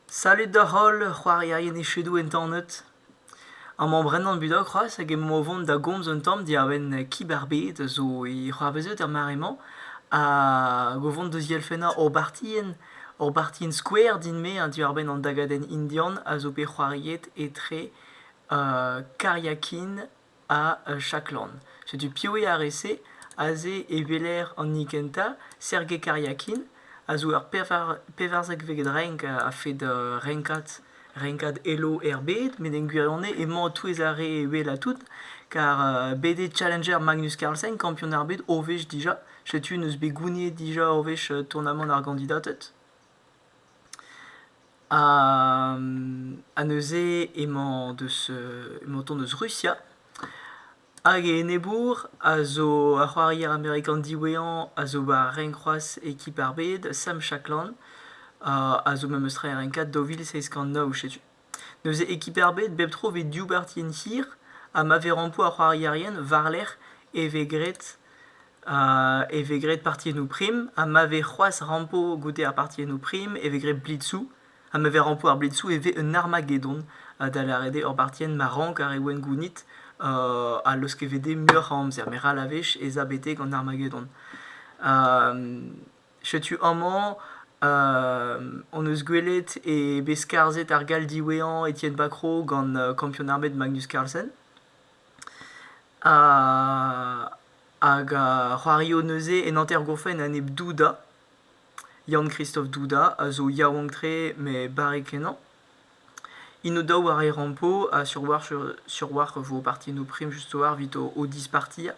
Salud d'hoc'h holl c'hoarierien echedoù entanet. Amañ Brendan Budok c'hoazh hag emaomp o vont da gomz un tamm diwar-benn kib ar bed zo e c'hoarveziot er mare-mañ hag o vont deus dielfennañ hor bartien, hor bartien skouer din-me hein diwar-benn an dagadenn indian a zo bet c'hoariet etre Karyakin ha Chaklon. Setu piv eo ar re-se, aze e weler an hini kentañ, Sergei Karyakin, a zo ur pevarzekvet renk a-fed renkad renkad Elo er bed, met en gwirionez emañ o-touez ar re wellañ tout, kar bet eo challenger Magnus Carlsen, kampion ar bed o wech dija. Setu n'eus bet gouniet dija o wech tournamant ar gandidated. Ha neuze emañ deus emañ o tont deus Rusia hag e enebour a zo ar c'hoarier amerikan diwezhañ a zo war renk c'hoazh ekip ar bed, Sam Shackland, a zo memes tra e renk kat daou vil seizh kant nav, setu. N'eus ekip ebet bep tro 'vez div bartienn hir ha ma vez rampoù ar c'hoarierien war-lerc'h e vez graet e vez graet partiennoù prim ha ma vez c'hoazh rampo goude ar partiennoù prim e vez graet blitzoù ha ma vez rampo ar blitzoù e vez un armagedon da lâret eo ur bartienn ma rank ar re wenn gounit ha leusket 'vez dezhe muioc'h a amzer met ral a wech ez a betek an armagedon. Setu amañ hon eus gwelet eo bet skarzhet ar gall diwezhañ Etienne Bacrot gant kampionn armet Magnus Carlsen. Hag a c'hoario neuze en hanter-gourfenn a-enep Duda. Yann-Christophe Duda a zo yaouank-tre met barrek-kenañ. Inodaou a rae rampo ha sur war sur war vo parti no prim just war evit o o disparti.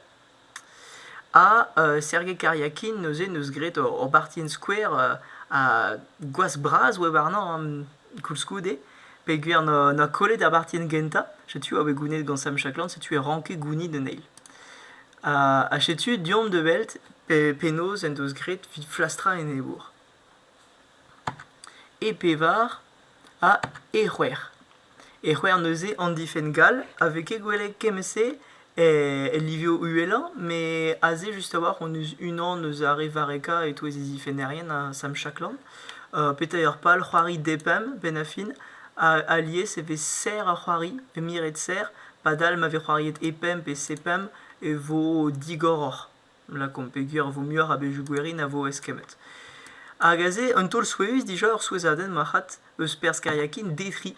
Ha euh, Sergei Kariakin neuze 'neus graet ur ur bartienn skouer euh, a gwazh bras oa warnañ koulskoude peogwir 'noa 'noa kollet ar bartienn gentañ. Setu a oa bet gounid gant Sam Shaklan, setu e ranke gounid un eil. Ha ha setu deomp da welt pe penaos en deus graet 'vit flastrañ enebour. E pevar ha e c'hwec'h. E c'hwec'h neuze an difenn gall a vez ket gwelet kement-se el livioù uhelañ met aze just a-walc'h hon eus unan eus ar re varrekañ e-touez e zifennerien ha Sam Shackland. petra eo ar pal c'hoari depemp benn ar fin alies e vez serr ar c'hoari e miret serr padal ma vez c'hoariet e pemp pe se pemp e vo digoroc'h. lakaomp peogwir e vo muioc'h a bezhioù gwerin a vo eskemmet. Hag aze, un taol souezhus dija, ur souezhadenn marc'had, eus perzh kariakin Detri.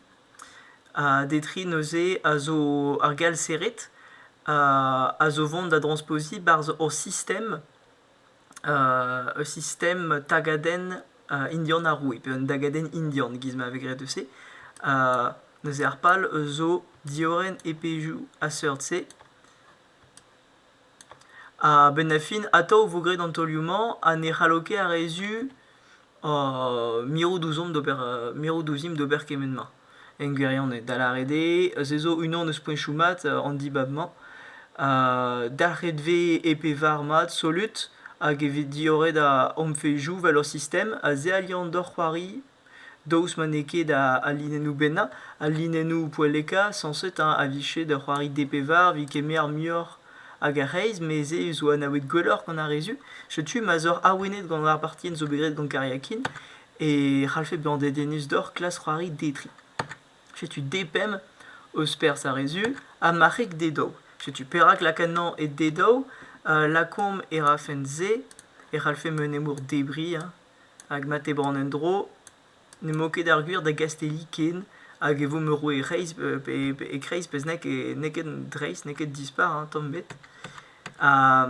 Ha Detri neuze a zo ar gall-serret, a zo vont da drospoziñ barzh hor sistem, ur sistem tagadenn indian ar roue, pe un dagadenn indian, giz ma vez graet eus se. neuze ar pal zo diorren e pezhioù a-seurt-se. A-benn ar fin atav e vo graet an taolioù-mañ ha ne c'hallo ket ar re zu mirout ouzhomp d'ober mirout ouzhimp d'ober kement-ma en gwirionez da lâret eo se zo unan eus poenchoù mat an dibab-mañ dalc'het vez e pevar mat solut hag evit diorret hom fezhioù 'vel hor sistem ha se a liañ deoc'h c'hoari daoust ma n'eo ket al linennoù bennañ, al linennoù poellekañ sañset a vije da c'hoari DP var evit kemer muioc'h hag ar reizh, mes se zo anavet gwelloc'h gant ar re zu. Setu ma 'z oc'h awenet gant ar partienn zo bet graet gant Kariakin e c'hallfe bezañ dedennus deoc'h klask c'hoari D3. Setu D5 eus perzh ar re zu ha marc'heg D2. Setu perak lakannañ e D2, lakaomp e rafen se e c'hallfe meunemour debriñ Hag ma tebran en-dro, n'emañ ket ar gwir da Gastelli ken, hag e vo merour e-Reizh pe e-Kreiz pezh n'eo ket n'eo ket dreist, n'eo ket dispar hein, tamm ebet. Ha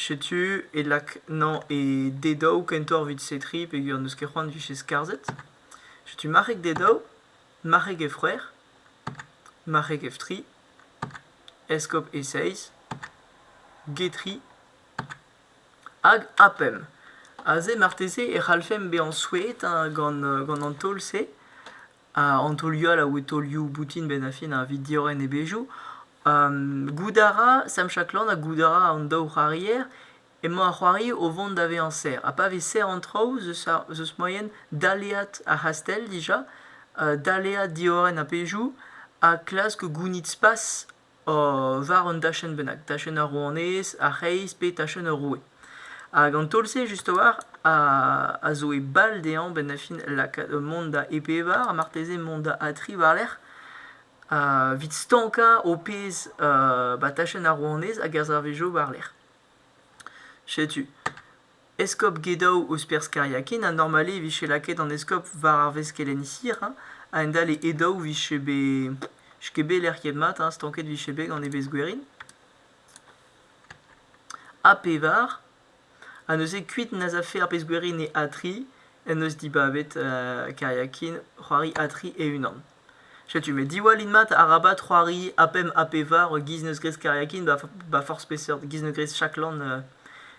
setu e lak nañ e D daou kentoc'h evit setriñ peogwir n'eus ket c'hoant 'vije skarzhet. Setu marc'heg D daou, marc'heg F c'hwec'h, marc'heg F tri, eskob E seizh, G tri, Hag APEM. Aze marteze e c'hallfemp bezañ souezhet hein, gant, gant an taol-se. an taolioù all a oe taolioù boutin benn-ar-fin evit diorren e bezhioù. goût a ra Sam Shaklan ha goût a ra an daou c'hoarier emañ ar c'hoari o vont da vezañ serr. Ha pa vez serr an traoù zeus ar zeus moaien daleat ar c'hastell dija, daleat diorren ar pezhioù ha klask gounit spas war un dachenn bennak, tachenn ar rouanez, ar c'hreiz pe tachenn ur roue. Hag an taol-se just a-walc'h a zo e bal dezhañ benn-ar-fin lakaat mont da e bevar ha marteze mont da adtriñ war-lerc'h evit stankañ ho pezh ba tachenn ar rouanez hag er servijo war-lerc'h. Setu. Eskob Gedow eus perzh Kariakin ha normal eo e vije lakaet an eskob war ar veskelenn-hir a-hend-all e Edow vije bet n'eus ket bet lec'hiet mat stanket vije bet gant evezh gwerin ha pevar ha neuze kuit n'az afe ar pezh gwerin e Atri en deus dibabet Kariakin c'hoari Atri e-unan. Setu me diwallin mat arabat c'hoari A5, A5 e giz neus graet kariakin ba forzh peseurt giz neus graet chaklan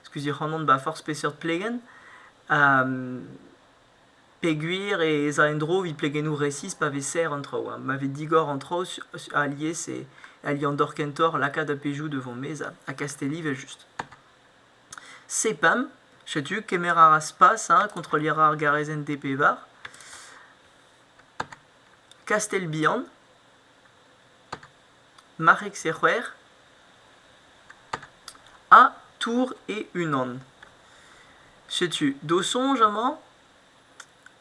skuizh ac'hanon ba forzh peseurt plegenn peogwir ez a en-dro evit plegennoù resis pa vez serr an traoù ma vez digor an traoù alies e aliañ dor kentoc'h lakaat a-bezhioù devant mez ha kastell evel-just. Sepam, setu kemer a ra spas hein, kontrolliñ a ra ar garezenn DP-Var. Kastell-Bihan, Marrec-Sec'houer ha Tours et Unan. Setu do soñj amañ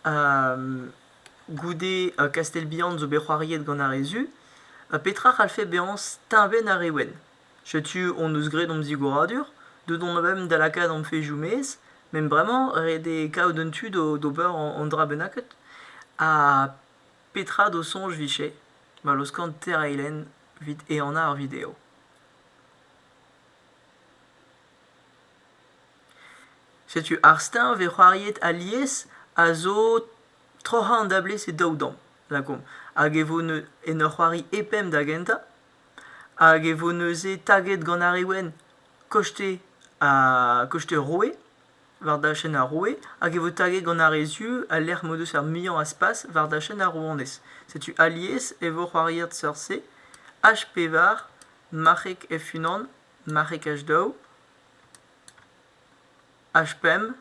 euh, goude euh, Kastell-Bihan zo bet c'hoariet gant ar re zu, euh, petra c'hallfe bezañ steñvenn ar re wenn. Setu hon eus graet hom zigoradur. Deut omp a-benn da lakaat hom fezhioù maez. Met bremañ ret eo kaout un tu d'ober an dra bennaket. Ha petra d'ho soñj 'vije ma laoskan tereiñ lenn evit ehanañ ar video? Setu ar steuñv e c'hoaried alies a zo troc'hañ an dablez e daou damm, lakaomp. Hag e vo en ur c'hoari e pemp da gentañ. Hag e vo neuze taget gant ar re wenn koste ar koste roue war dachenn ar roue hag e vo taget gant ar re zu al lec'h m'o deus ar muiañ a spas war dachenn ar rouanez. Setu alies e vo c'hoariet seurt-se H-pevar, marc'heg F-unan, marc'heg H-daou. H-pemp,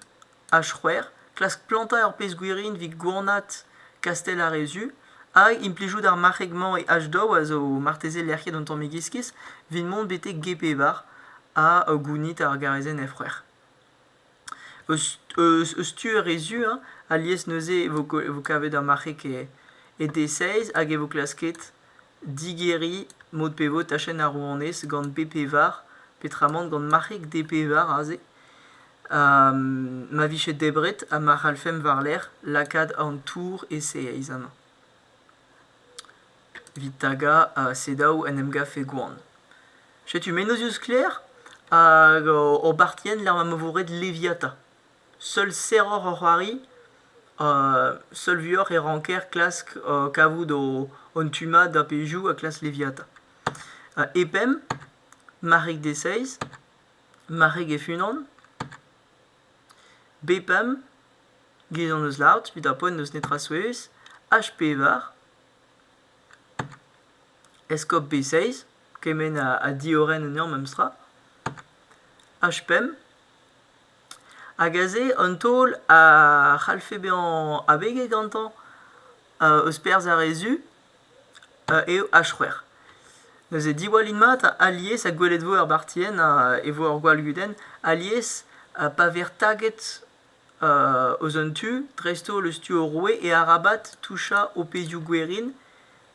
H-c'hwec'h, klask plantañ ur pezh gwirin evit gouarnat kastell ar re zu hag implijout ar marc'heg-mañ e H-daou a zo marteze lec'hiet an tammig iskis evit mont betek G-pevar ha gounit ar garezenn F-c'hwec'h. Eus eus tu ar re zu hein, alies neuze e vo vo kavet ar marc'heg e e D-seiz hag e vo klasket Digeriñ mod pevaod tachenn ar rouanez gant B-pevar petramant gant marc'heg D-pevar aze ma vije debret ha ma c'hallfemp war-lerc'h lakaat an tour e-seiz amañ. Evit tagañ ha selaou en em gavfe gwan. Setu mennozh eus sklaer hag hor bartienn lec'h ma vo roet Leviata. Seul serroc'h hor c'hoari, seul vuoc'h e ranker klask kavout hon tu-mat da pezhioù ha klask leviata. E pemp, marc'heg deseizh, marc'heg hef-unan. B pemp, gaezh hon eus lart evit ar poent n'eus netra souezh. H pevar, eskob B6, kement ha diorren anezhañ memestra. H pemp, Hag aze an taol a c'hallfe bezañ abeg gantañ eus perzh ar re zu eo H c'hwec'h. Neuze diwallin mat alies ha gwelet vo er bartienn ha e vo ur gwallgudenn alies pa vez taget eus un tu dreist-holl eus tu ur roue e arabat touchañ ho pezhioù gwerin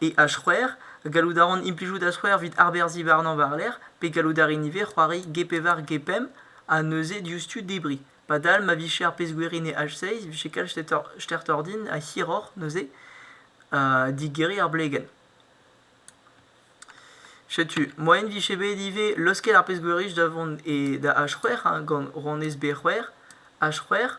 E H-c'hwec'h, gallout a ran implijout H-c'hwec'h evit arberzhiñ warnañ war-lerc'h pe gallout a rin ivez c'hoari G-pevar G-pemp ha neuze diouzhtu debriñ. Padal ma vije ar pezh-gwiriñ e H-seizh e vije kalz stertoc'h din ha hiroc'h neuze digeriñ ar blegenn. Setu, moaien vije bet ivez laoskel ar pezh-gwiriñ da vont e da H-c'hwec'h gant rouanez B-c'hwec'h, H-c'hwec'h,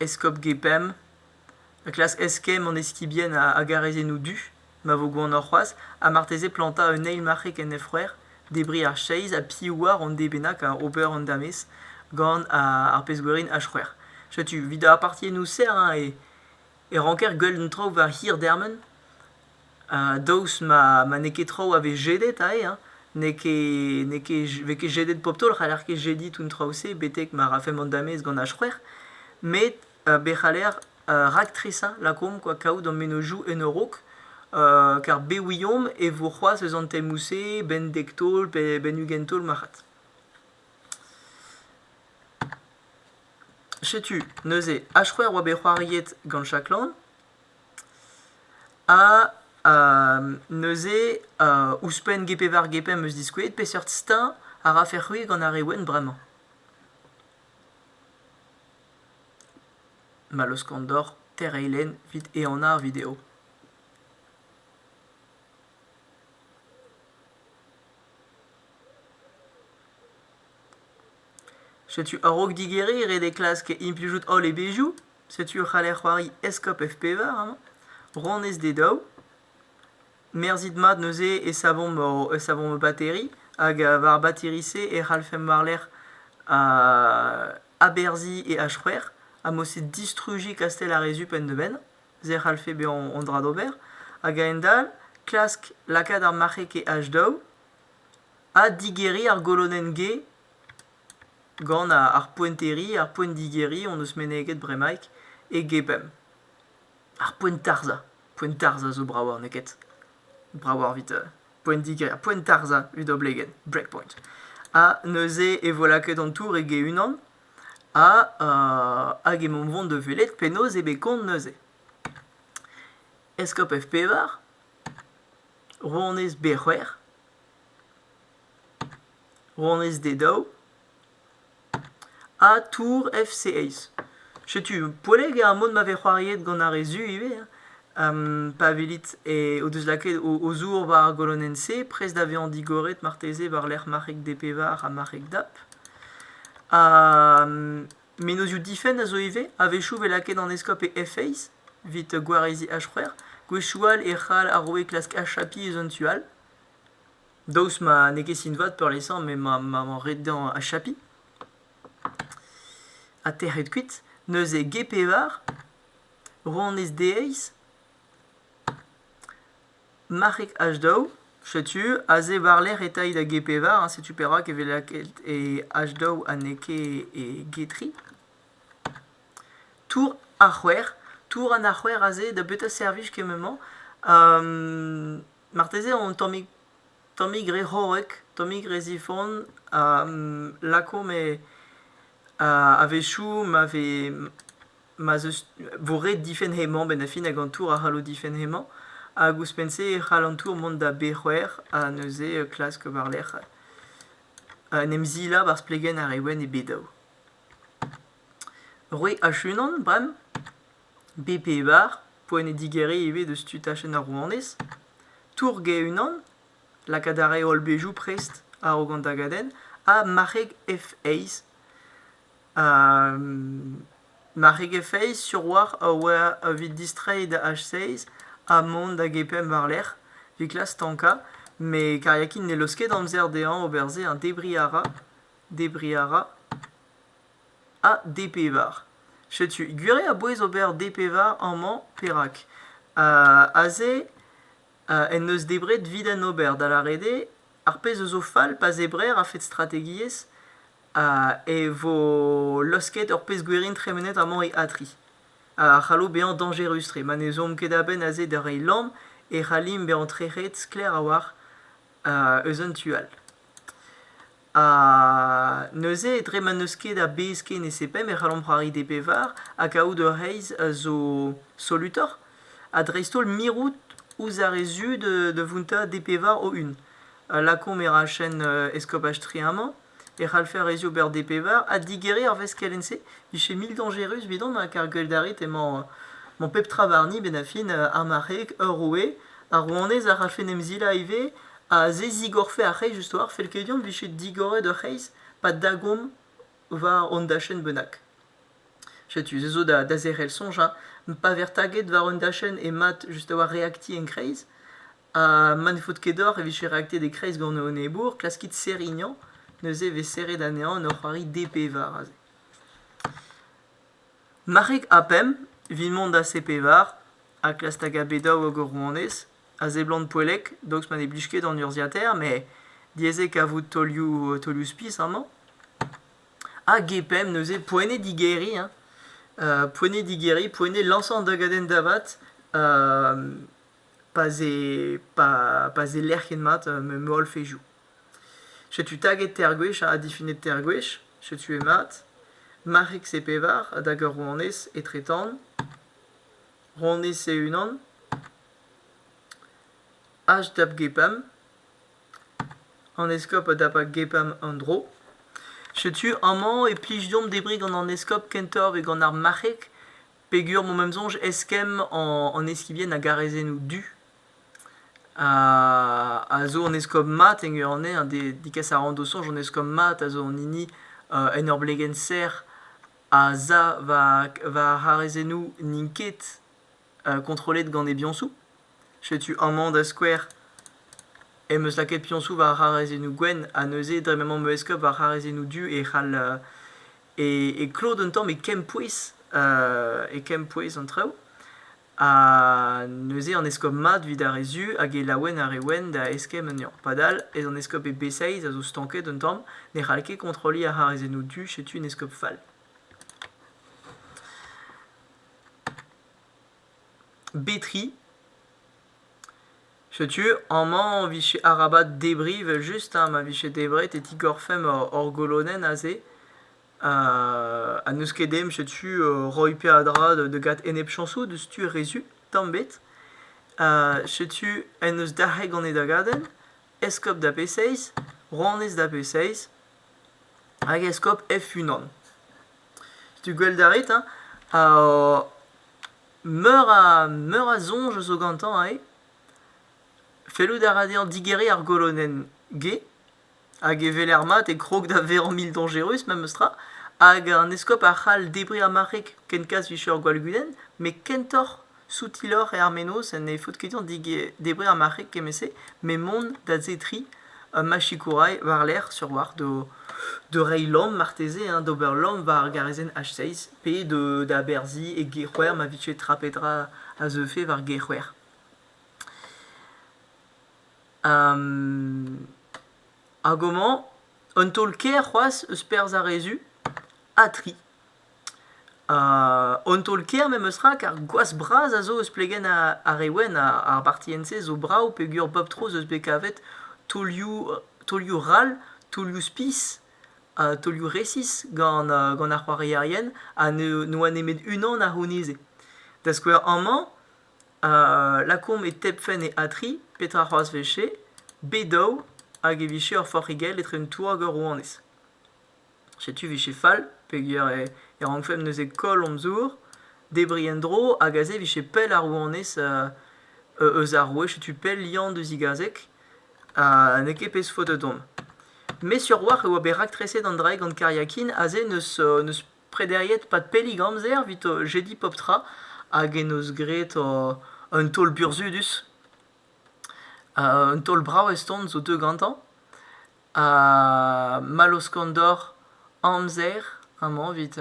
Eskob Gepemp a klask eskemm an eskibien hag araezennoù du ma vo gwashoc'h c'hoazh ha marteze plantañ un eil marc'heg kenefc'her, debriñ ar cheiz ha piv oar an deiz bennañ ober an damez gant ar pezh-gwerin H-c'hwec'h. Setu 'vit ar partiennoù serr e ranker gwell un traoù war hir dermen. daoust ma n'eo ket traoù a vez jedet aze, n'eo ket n'eo ket vez ket jedet pop taol, c'haller ket jediñ tout an traoù-se betek ma rafemp an damez gant ar c'hwec'h, met be c'haller raktresañ lakaomp kwa kaout hor mennozhioù en ur raok, kar be ouiomp e vo c'hoazh eus an temoù-se benn dek taol pe benn ugent taol marc'had. Setu neuze ar c'hwec'h oa bet c'hoariet gant Chaklan. Ha neuze ouzhpenn G-Pevar G-Pemp 'm eus diskouezet peseurt steuñv a rafec'h c'hwi gant ar re wenn bremañ. Ma laoskan deoc'h tereiñ lenn 'vit ehanañ ar video. Setu a-raok digeriñ ret eo klask implijout holl e bezhioù. Setu o c'haller c'hoari Eskop F-pevar amañ, Ronez d'e daou. Merzit mat neuze e savomp hor, e savomp ho bateri, hag uh, war bateri-se e c'hallfemp war-lerc'h uh, aberzhiñ e H-c'hwec'h, ha mod-se distrujiñ Kastell ar Rezup en dibenn, se a c'hallfe bezañ hon dra d'ober, hag a-hend-all klask lakaat ar marc'heg e H daou, ha digeriñ ar golonenn G Gant ar poenteri, ar poent-digeriñ hon eus meneget bremaik e gebemp. Ar poent-tarzhañ. Poent-tarzhañ zo brav n'eo ket? Brav evit poent-digeriñ, poent-tarzhañ evit oblegenn, breakpoint. Ha neuze e vo lakaet an tour ege-unan ha hag emaomp 'vont da welet penaos eo bet kont neuze. Eskob F-pevar, Rouanez B-c'hwec'h, Rouanez d'e daou. Ha Tour FC1. Setu poellek ar mod ma vez c'hoariet gant ar re zu ivez. pa welit o deus lakaet o zour war ar golonenn-se, prest da vezañ digoret marteze war-lerc'h marc'heg DP-Var ha marc'heg DAP. Ha menozioù difenn a zo ivez, a-wechoù 'vez lakaet an eskob e F-Eizh evit gwareziñ H-c'hwec'h. Gwezhioù all e c'hall ar roue klask achapiñ eus un tu all. Daoust ma n'eo ket sin-vat peurliesañ m'emañ ret dezhañ achapiñ ha tec'het kuit, neuze G-pevar, rouanez deiz, marc'heg H-daou, setu aze war-lerc'h eta da G-pevar, setu perak e vez lakaet e H-daou ha n'eo ket e G-tri. Tour ar c'hwec'h, tour an ar c'hwec'h aze, da betra servij kement-mañ? Marteze an tammig tammig re c'horrek, tammig re zifon a lakaomp e a-wechoù ma vez ma'z eus vo ret difenn hemañ benn ar fin hag an tour a c'hallo difenn hemañ hag ouzhpenn-se e c'hall an tour mont da B-c'hwec'h ha neuze klask war-lerc'h en em zilabour ar splegenn ar re wenn e B daou. Roit achunan bremañ? B-Pevar, poent eo digeriñ ivez deus tu tachenn ar rouanez. Tourg e-unan, lakaat a rae holl bezhioù prest a-raok an dagadenn, ha marc'heg F-Eizh. Ha marc'heg F-Eizh sur oalc'h a oa evit distreiñ da H-Seiz ha mont da G-Pemp war-lerc'h evit klas stankañ, met Kariakin ne laoske ket amzer dezhañ ober se, hein debriñ a ra, debriñ a ra. ha D-pevar. Setu, gwiriañ a-bouez ober D-pevar amañ, perak? aze en deus debret evit en ober, da lâret eo, ar pezh a zo fall pa zebrer a-fed strategiezh e vo laosket ur pezh gwerin tremenet amañ e A3. A c'hallo bezañ dañjerus-tre ma ne zomp ket a-benn aze da reiñ lamm e c'hallimp bezañ trec'het sklaer a-walc'h eus un tu all. Ha neuze, dre ma n'eus ket a bez ken e sebem, e c'hallomp c'hoari d'e bevar, ha kaout ur reizh a zo solutoc'h, ha dreist-holl mirout ouzh ar re zu da vountañ d'e bevar o-un. Lakaomp e rachenn eskopaj Trier amañ, e c'hallfe ar re zu ober d'e bevar ha digeriñ ar veskelenn-se. Vije mil dañjerus evidon, kar gwell d'ar rit emañ pep tra warni, benn ar fin, ar marc'heg, ur roue, ar rouanez a rafen emzilañ ivez, Aze zigorfe ar c'hreiz istor, fell ket din 'vije digoret ur c'hreiz pa dagomp war hon dachenn bennak. Setu, se zo da, da zerc'hel soñj hein, pa ver taget war un dachenn mat just a-walc'h reaktiñ en kreiz, ha ma ne faot ket deoc'h e vije reaktiet e-kreiz gant ho enebour, klaskit serignañ, neuze e vez serret anezhañ en ur c'hoari D-pevar aze. Marc'heg ha pemp, 'vit mont da C-pevar, ha klask da gavet daou hag ur rouanez, a seblant poellek, daoust ma ne blij ket an urzhiataer, met diaes eo kavout taolioù taolioù-spis amañ. Ah, GPM neuze, poent eo digeriñ hein. Euh, poent eo digeriñ, poent eo lañsañ an dagadenn da vat euh, pa'z eo pa pa'z eo lec'h ket mat euh, me holl fezhioù. Setu taget teir gwech ha difinet teir gwech, setu mat. Marc'h X e pevar, hag ur rouanez etre-tan. Rouanez e unan. HWGPAM, an eskob da GPAM an dro. Setu amañ e plij deomp debriñ gant an eskob kentoc'h gant ar marc'heg peger m'o em soñj eskemm an eskibien a garaezennoù du. A zo an eskob mat e gwir anezhañ degas a ra d'o soñj an eskob mat a zo an hini en ur blegenn serr a za war haraezenoù n'int ket. kontrollet gant e biañsoù. Setu amañ da skouer em eus lakaet piañsoù war c'harezennoù gwenn ha neuze dre m'emañ ma eskob war c'harezennoù du e c'hall e klod un tamm e kempouez e kempouez an traoù. Ha neuze an eskob mat evit ar re su hag e laouen ar re wenn da eskemm anezhañ. Padal ez an eskob e B6 a zo stanket un tamm, ne c'hall ket kontrolliñ ar c'harezennoù du, setu un eskob fall. Betri. Setu amañ 'n vije arabat debriñ evel-just hein, ma vije debret e tigorfemp hor hor golonenn aze. Ha n'eus ket emp setu roiñ peadra da gat enep-chañsoù diouzhtu rezut tamm 'bet. setu en deus dalc'het gant e dagadenn, eskob da pe seizh, rouanez da pe seizh. hag eskob F-unan. Setu gwell da ret, hein? Ha meur a, meur a soñj zo gantañ ivez. Fellout a ra dezhañ digeriñ ar golonenn G, hag e weler mat e krog da vezañ mildañjerus memes tra, hag an eskob a c'hall debriñ ar marc'heg ken kas 'vije ur gwallgudenn, met kentoc'h Soutiloc'h eo ar mennozh ne faot ket dezhañ debriñ ar marc'heg kement-se met mont da zetriñ ma sikourailh war-lerc'h sur war da reiñ lamm marteze hein, d'ober lamm war ar garazenn H6 pe d'aberziñ e Gêr-C'hwer ma vije tra pe dra a zeufe war Gêr-C'hwer. Hag homañ un taol-kaer c'hoazh eus perzh ar re zu ha tri. An taol-kaer memestra kar gwazh bras a zo eus plegenn ar re wenn. Ar bartienn-se zo brav peogwir bep tro ez eus bet kavet taolioù taolioù ral, taolioù spis, taolioù resis gant gant ar c'hoarierien ha ne oa nemet unan a c'houneze. Da skouer amañ lakaomp e tebfenn e A3 petra c'hoazh 'vije? B daou hag e vije ur forc'higell etre un tour hag ur rouanez. Setu 'vije fall peogwir e rankfemp neuze koll hon zour, debriñ en-dro hag aze 'vije pell ar rouanez eus ar roue, setu pell Yann da zigazeg ha n'eo ket pezh faotr don. Me sur-walc'h e oa bet raktreset an dra-se gant Kariakin aze n'eus prederiet 'pad pellik amzer evit jediñ pep tra hag en deus graet un taol burzhudus. Un taol brav eston zo deuet gantañ. Ha Malloz Kondor, amzer amañ evit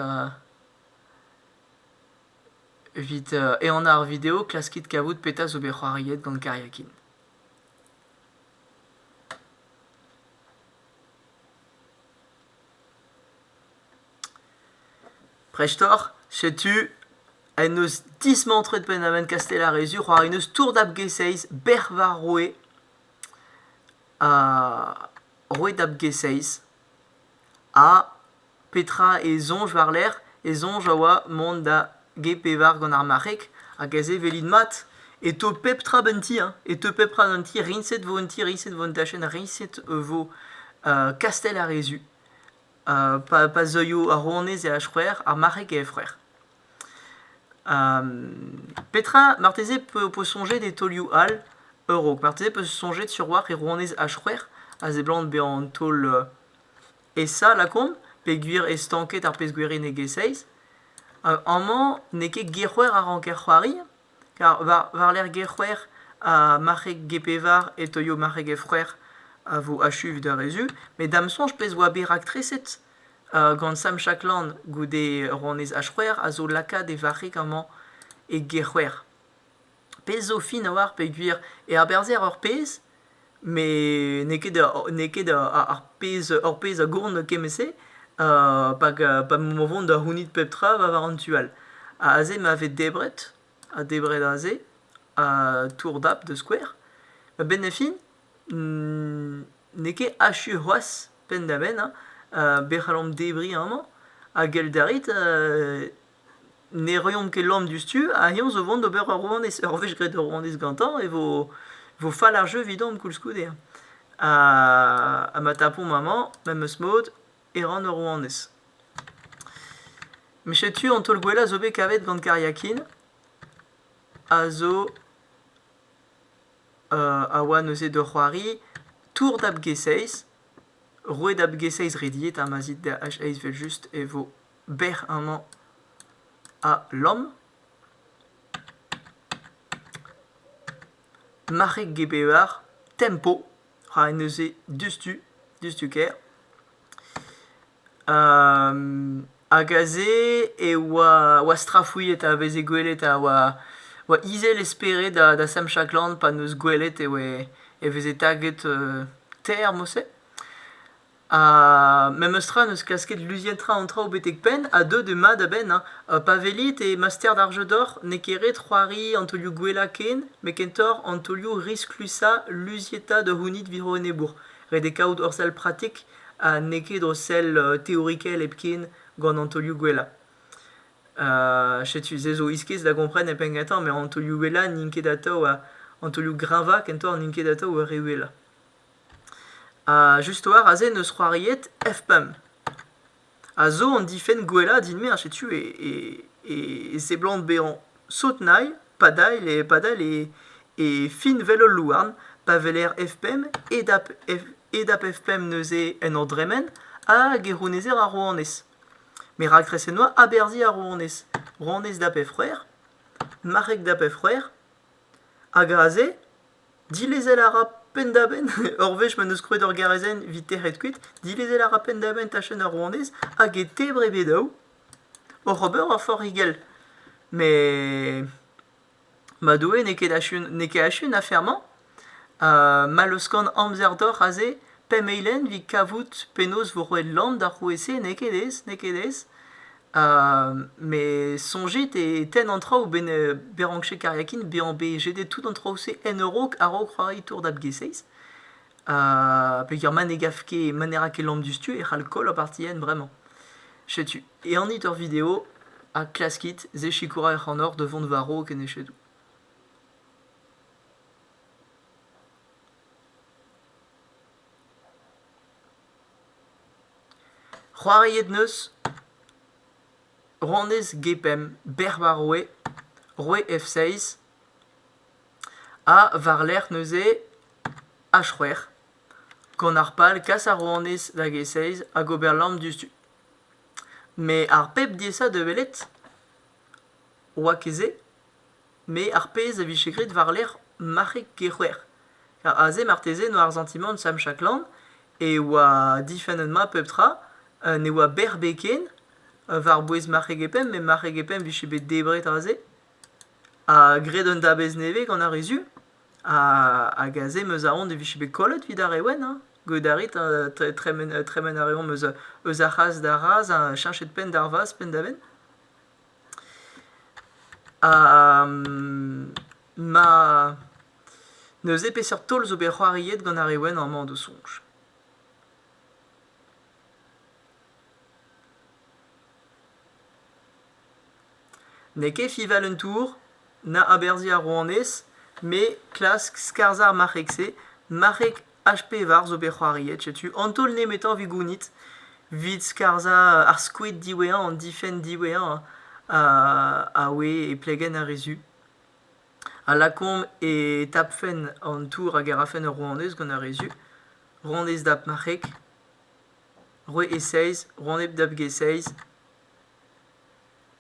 evit ehanañ ar video klaskit kavout petra zo bet c'hoariet gant Kariakin. Prestor, setu en eus dismantret Pennaven Kastellarezur c'hoari n'eus tour dab G6, bec'h war roue. roet ab G6 ha petra e soñj war-lerc'h e soñj a oa mont da G5 gant ar marc'heg hag aze welit mat e teu pep tra d'un ti hein e teu pep tra d'un ti riñset vo un ti riñset vo un tachenn riñset vo kastell ar re zu pa zeuio ar rouanez e ha c'hwec'h ar marc'heg e c'hwec'h Petra, marteze, ho peus soñjet e taolioù all a-raok? Marteze peus soñjet sur a-walc'h e rouanez H-c'hwec'h a seblant bezañ an taol esa lakaomp peogwir eo stanket ar pezh-gwirenegezh-eizh. Amañ n'eo ket G-c'hwec'h a ranker c'hoari, kar war-lerc'h G-c'hwec'h ha marc'heg G-pevar e taolio marc'heg F-c'hwec'h a vo achu evit ar re zu. Met da'm soñj pezh oa bet raktreset gant Sam Shackland goude ronez H-c'hwec'h a zo lakaat e varc'heg amañ e G-c'hwec'h. Pezh zo fin a-walc'h peogwir e aberzher ur pezh met n'eo ket n'eo ket ar pezh ur pezh a gourn kement-se pa emañ o vont da c'hounit pep tra war an tu all. Aze ma vez debret, ha debret aze, ha tour dap da skouer, a-benn a fin n'eo ket achu c'hoazh penn-da-benn hein be c'hallomp debriñ amañ ha gellet a rit ne roiomp ket lamm diouzhtu ha eñ zo vont d'ober ur rouanez ur wech graet ur rouanez gantañ e vo vo fall ar jeu evidomp koulskoude hein ha ma tapomp amañ memes mod e ran ur rouanez. Met setu an taol gwellañ zo bet kavet gant Kariakin a zo a oa neuze d'o c'hoari tour da b-g6. Roue da b-g6 rediet, ha ma zit da h6 evel-just e vo bec'h amañ ha lamm. Marc'heg g-bevar, tempo, ra en deus-se diouzhtu, diouzhtu ker. Hag aze e oa strafuilhet a veze gwelet a oa izel e spered da Semchaklan pa 'neus gwelet e oe e veze taget termose. Ha memestra n'eus klasket luziet tra an traoù betek penn ha deuet eo mat a-benn ha pa welit e master d'ar jeu d'or n'eo ket ret c'hoari an taolioù gwellañ ken met kentoc'h an taolioù risklusañ luzietañ da c'hounit war-dro enebour. Ret eo kaout hor sell pratik. ha n'eo ket o sell teorikel hepken gant an taolioù gwellañ. setu se zo iskis da gompren e penn gantañ, met an taolioù gwellañ n'int ket atav an taolioù greñvañ kentoc'h n'int ket atav ur re uhelañ. Ha just war aze 'neus c'hoariet F-pump. a zo an difenn gwellañ din-me ha setu e, e, e seblant bezañ sot-nailh padal e, padal e, e fin 'vel ul louarn pa weler F5 e dap F e dap F5 neuze en ur dremen hag e c'hounezer ar rouanez. Me rakrese 'noa aberzhiñ ar rouanez. Rouanez dap F c'hwec'h, marc'heg dap F c'hwec'h hag aze Dilezel a ra penn-da-benn ur wech ma 'n eus krouet ur garezenn evit tec'het kuit. Dilezel a ra penn-da-benn tachenn ar rouanez hag e tebr e bed ao. oc'h ober ur forc'higell. Met ma doue n'eo ket achu n'eo ket achu an afer-mañ. ma leuskan amzer deoc'h aze pemp eilenn evit kavout penaos vo roet lamm d'ar roue-se n'eo ket aes n'eo ket aes. Me soñjit e tenn an traoù benn Berankche Kariakin bezañ bet jedet tout an traoù-se en a-raok a-raok c'hoari Tour dad G6. Peger ma ne gav ket ma ne ra ket lamm diouzhtu e c'hall koll ar partidenn bremañ. Setu, ehanit ur video ha klaskit se sikourañ ac'hanoc'h da vont war-raok en echedoù. C'hoariet 'neus Ronez Gepemp, Bec'h war Roue, Roue F6 ha war-lerc'h neuze H-c'hwec'h gant ar pal kas ar rouanez da G6 hag ober lamm diouzhtu. Met ar pep diaesañ da welet oa ket se. Met ar pezh a vije graet war-lerc'h marc'heg Kec'hwer. Aze marteze 'noa ar santimant Sam Chaklan e oa difennet-mat pep tra, ne oa berrbed ken war-bouez marc'heg e Pemp, met marc'heg e Pemp vije bet debret aze, ha graet un dabez nevez gant ar re Su, hag aze 'meus aon e vije bet kollet 'vit ar re wenn hein, get a rit tremen a reomp eus ar c'hazh d'ar razh ha cheñchet penn d'ar vazh penn da benn. Ma... neuze peseurt taol zo bet c'hoariet gant ar re wenn amañ d'o soñj? N'eo ket Fival un tour? na aberzhiñ ar rouanez, me klask skarzhañ ar marc'heg-se, marc'heg H-pevar zo bet c'hoariet, setu an taol nemetañ evit gounit, evit skarzhañ ar skoed diwezhañ, an difenn diwezhañ a oe e plegenn ar re zu. A lakaomp e tapfen an tour hag a rafen ur rouanez gant ar re zu, rouanez dap marc'heg, roue E-seiz, rouanez dap G-seiz,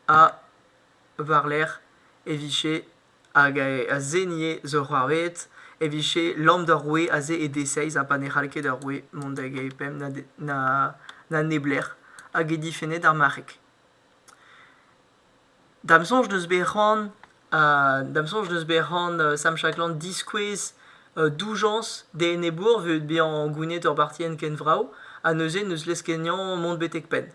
ha war-lerc'h e vije hag a zenie zo c'hoarveet e vije lamm d'ur roue aze e deseiz ha pa ne c'hall ket ur roue mont da gepemp na neblec'h hag e difenne d'ar marc'heg. Da'm soñj n'eus bet c'hoant da'm soñj n'eus bet c'hoant Sam Chakland diskouez doujañs d'e enebour evit bezañ gounid ur bartienn ken vrav ha neuze n'eus leskeniañ mont betek penn.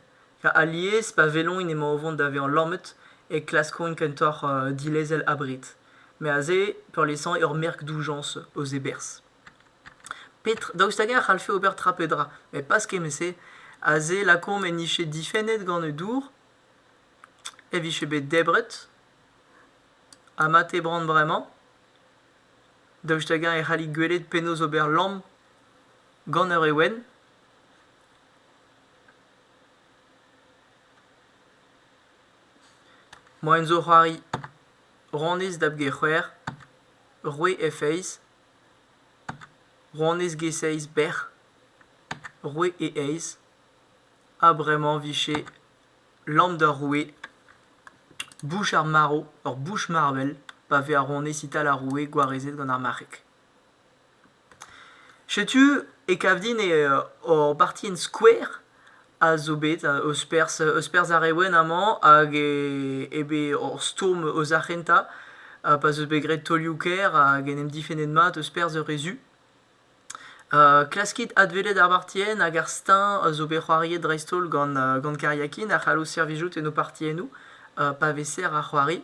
Alies, pa weloint emañ o vont da vezañ lammet, e klaskont kentoc'h dilezel abred. Met aze, peurliesañ, ur merk doujañs eus e berzh. Petr- daoust hag-eñ a c'hallfe ober tra pe dra? Met pas kement-se. Aze, lakaomp en dije difennet gant e dour, e vije bet debret, ha mat eo bran bremañ. Daoust hag-eñ e c'hallit gwelet penaos ober lamm gant ur ewen? Moaien zo c'hoari rouanez dap get c'hwec'h, roue F eizh, rouanez get seizh bec'h, roue E eizh, ha bremañ 'vije lamm d'ar roue, bouch ar marv, ur bouch marvel pa vez ar rouanez ital ar roue gwarezet gant ar marc'heg. Setu e kav din eo hor bartienn skouer a zo bet eus perzh eus perzh ar re wenn amañ hag e eo bet hor stourm eus ar c'hentañ pa'z eus bet graet taolioù-kaer hag en em difennet mat eus perzh ur re zu. klaskit adwelet ar bartienn hag ar steuñv a zo bet c'hoariet dreist-holl gant gant kariakin a c'hallo servijout en ho partiennoù pa vez serr ar c'hoari.